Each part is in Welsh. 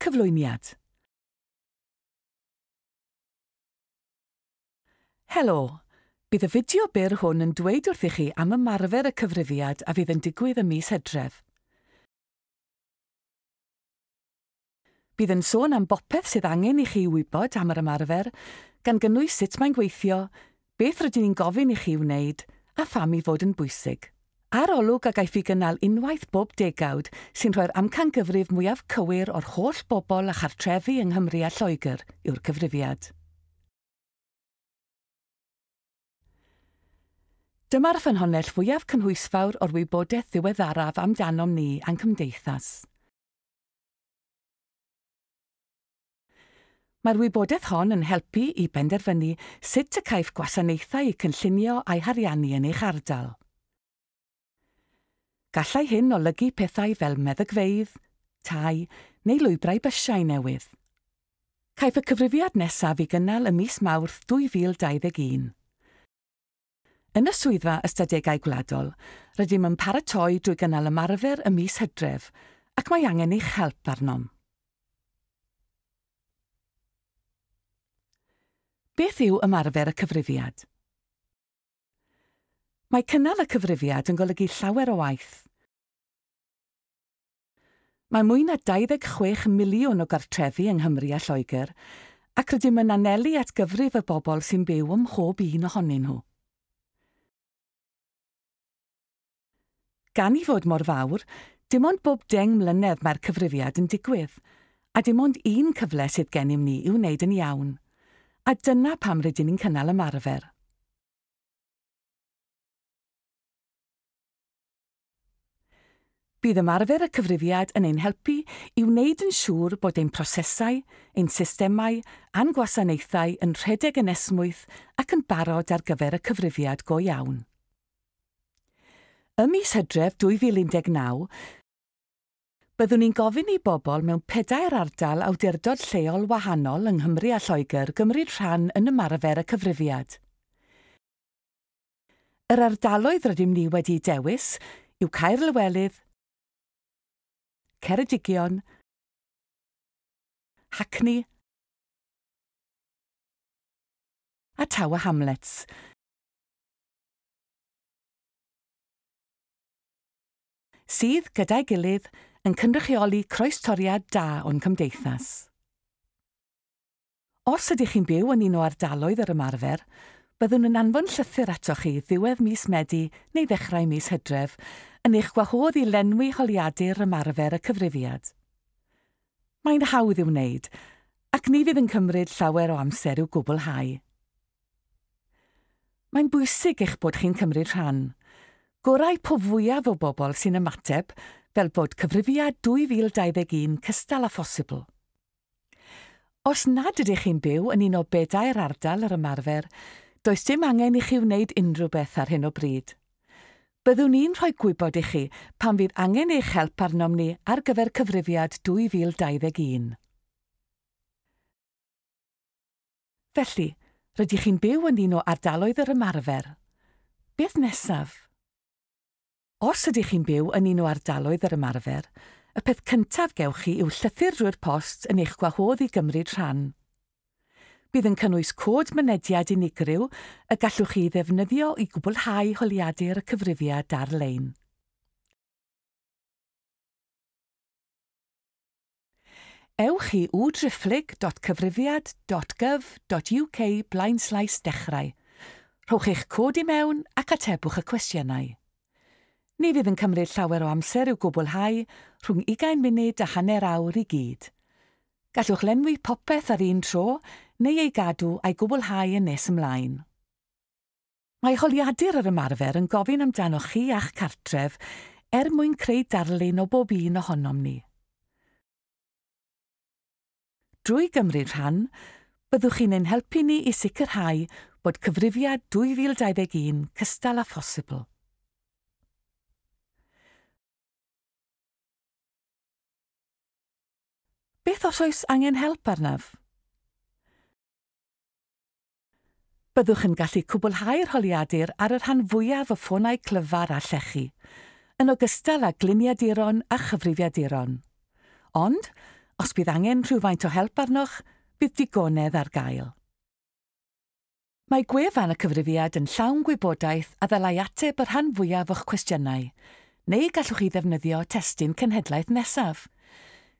Cyflwyniad Helo! Bydd y fideo byr hwn yn dweud wrthych chi am ymarfer y cyfrifiad a fydd yn digwydd ym mis Hydref. Bydd yn sôn am bopeth sydd angen i chi wybod am yr ymarfer, gan gynnwys sut mae'n gweithio, beth rydyn ni'n gofyn i chi wneud, a pham ei fod yn bwysig. Arolwg a gaiff ei gynnal unwaith bob degawd sy'n rhoi'r amcangyfrif mwyaf cywir o'r holl bobl a chartrefi yng Nghymru a Lloegr yw'r cyfrifiad. Dyma'r ffynhonnell fwyaf cynhwysfawr o'r wybodaeth ddiweddaraf amdanom ni a'n cymdeithas. Mae'r wybodaeth hon yn helpu i benderfynu sut y caiff gwasanaethau eu cynllunio a'u hariannu yn eich ardal. Gallai hyn olygu pethau fel meddygfeydd, tai, neu lwybrau bysiau newydd. Caiff y cyfrifiad nesaf i gynnal ym mis Mawrth 2021. Yn y Swyddfa Ystadegau Gwladol, rydym yn paratoi drwy gynnal ymarfer ym mis Hydref, ac mae angen eich help arnom. Beth yw ymarfer y cyfrifiad? Mae cynnal y cyfrifiad yn golygu llawer o waith. Mae mwy na 26 miliwn o gartrefi yng Nghymru a Lloegr, ac rydym yn anelu at gyfrif y bobl sy'n byw ym mhob un ohonyn nhw. Gan ei fod mor fawr, dim ond bob deng mlynedd mae'r cyfrifiad yn digwydd, a dim ond un cyfle sydd gennym ni i'w wneud yn iawn. A dyna pam rydyn ni'n cynnal ymarfer. Bydd ymarfer y cyfrifiad yn ein helpu i wneud yn siŵr bod ein prosesau, ein systemau a'n gwasanaethau yn rhedeg yn esmwyth ac yn barod ar gyfer y cyfrifiad go iawn. Ym mis Hydref 2019, byddwn ni'n gofyn i bobl mewn pedair ardal awdurdod lleol wahanol yng Nghymru a Lloegr gymryd rhan yn ymarfer y cyfrifiad. Yr ardaloedd rydym ni wedi'u dewis yw Caerlywelydd, Ceredigion, Hackney a Tower Hamlets. sydd, gyda'i gilydd, yn cynrychioli croestoriad da o'n cymdeithas. Os ydych chi'n byw yn un o ardaloedd yr ymarfer, byddwn yn anfon llythyr atoch chi ddiwedd mis Medi neu ddechrau mis Hydref yn eich gwahodd i lenwi holiadur ymarfer y cyfrifiad. Mae'n hawdd i'w wneud, ac ni fydd yn cymryd llawer o amser i'w gwblhau. Mae'n bwysig eich bod chi'n cymryd rhan. Gorau po fwyaf o bobl sy'n ymateb fel bod Cyfrifiad 2021 cystal â phosibl. Os nad ydych chi'n byw yn un o bedair ardal yr ymarfer, does dim angen i chi wneud unrhyw beth ar hyn o bryd. Byddwn i'n rhoi gwybod i chi pan fydd angen eich help arnom ni ar gyfer Cyfrifiad 2021. Felly, rydych chi'n byw yn un o ardaloedd yr ymarfer. Beth nesaf? Os ydych chi'n byw yn un o ardaloedd yr ymarfer, y peth cyntaf gewch chi yw llythyr drwy'r post yn eich gwahodd i gymryd rhan. Bydd yn cynnwys cod mynediad unigryw y gallwch chi ei ddefnyddio i gwblhau holiadur y cyfrifiad ar-lein. Ewch i udriphlyg.cyfrifiad.gov.uk blaenslaes dechrau, rhowch eich cod i mewn ac atebwch y cwestiynau. Ni fydd yn cymryd llawer o amser i'w gwblhau, rhwng ugain munud a hanner awr i gyd. Gallwch lenwi popeth ar un tro neu ei gadw a'i gwblhau yn nes ymlaen. Mae holiadur yr ymarfer yn gofyn amdanoch chi a'ch cartref er mwyn creu darlun o bob un ohonom ni. Drwy gymryd rhan, byddwch chi'n ein helpu ni i sicrhau bod Cyfrifiad 2021 cystal â phosibl. Beth os oes angen help arnaf? Byddwch yn gallu cwblhau'r holiadur ar y rhan fwyaf o ffonau clyfar a llechi, yn ogystal â gliniaduron a chyfrifiaduron. Ond, os bydd angen rhywfaint o help arnoch, bydd digonedd ar gael. Mae gwefan y cyfrifiad yn llawn gwybodaeth a ddylai ateb y rhan fwyaf o'ch cwestiynau, neu gallwch chi ddefnyddio testun cenhedlaeth nesaf.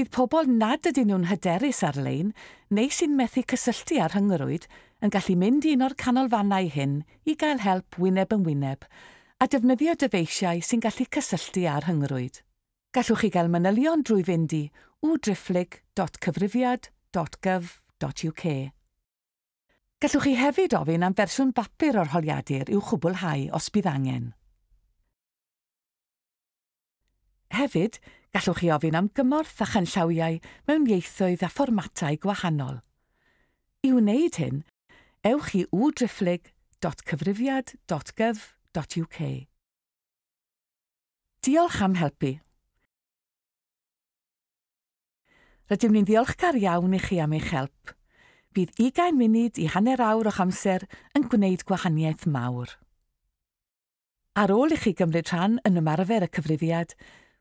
Bydd pobl nad ydyn nhw'n hyderus ar-lein neu sy'n methu cysylltu â rhyngrwyd yn gallu mynd i un o'r canolfannau hyn i gael help wyneb yn wyneb a defnyddio dyfeisiau sy'n gallu cysylltu â rhyngrwyd. Gallwch chi gael manylion drwy fynd i u-driphlyg dot cyfrifiad dot gov dot uk. Gallwch chi hefyd ofyn am fersiwn bapur o'r holiadur i'w chwblhau os bydd angen. Hefyd, gallwch chi ofyn am gymorth â chanllawiau mewn ieithoedd a fformatau gwahanol. I wneud hyn, ewch i uwdriphlyg.cyfrifiad.gov.uk. Diolch am helpu. Rydym ni'n ddiolchgar iawn i chi am eich help. Bydd ugain munud i hanner awr o'ch amser yn gwneud gwahaniaeth mawr. Ar ôl i chi gymryd rhan yn ymarfer y cyfrifiad,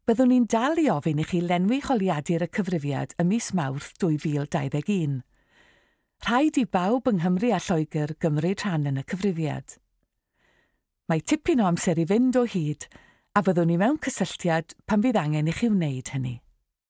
byddwn ni'n dal i ofyn i chi lenwi holiadur y cyfrifiad ym mis Mawrth 2021. Rhaid i bawb yng Nghymru a Lloegr gymryd rhan yn y cyfrifiad. Mae tipyn o amser i fynd o hyd a fyddwn ni mewn cysylltiad pan fydd angen i chi wneud hynny.